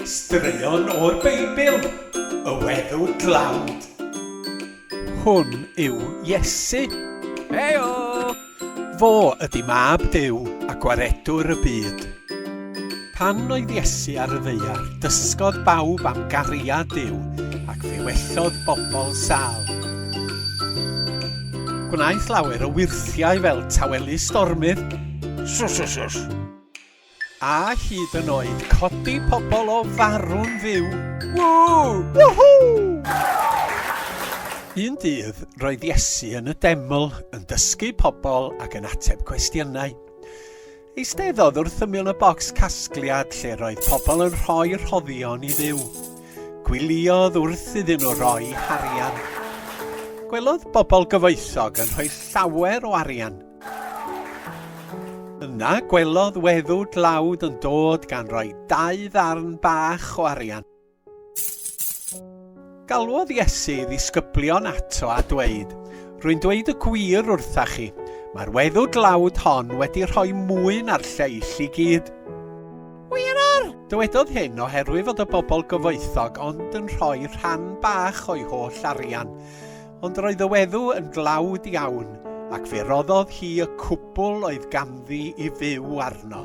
Straeon o'r Beibl, y weddw dlawd. Hwn yw Iesu. Hei-o! Fo ydy Mab Duw a Gwaredwr y byd. Pan oedd Iesu ar y ddaear, dysgodd bawb am gariad Duw ac fe wellodd bobl sâl. Gwnaeth lawer o wyrthiau fel tawelu stormydd. Sws, sws, sws! A hyd yn oed codi pobl o farw'n fyw! Woo! Woohoo! Un dydd, roedd Iesu yn y deml, yn dysgu pobl ac yn ateb cwestiynau. Eisteddodd wrth ymyl y bocs casgliad lle roedd pobl yn rhoi rhoddion i Dduw. Gwyliodd wrth iddyn nhw roi harian. Gwelodd bobl gyfoethog yn rhoi llawer o arian. Yna gwelodd weddw dlawd yn dod gan roi dau ddarn bach o arian. Galwodd Iesu ddisgyblion ato a dweud, Rwy'n dweud y gwir wrtha chi, mae'r weddw dlawd hon wedi rhoi mwy na'r lleill i gyd. Wirar! Dywedodd hyn oherwydd fod y bobl gyfoethog ond yn rhoi rhan bach o'i holl arian. Ond roedd y weddw yn dlawd iawn, ac fe roddodd hi y cwbl oedd ganddi i fyw arno.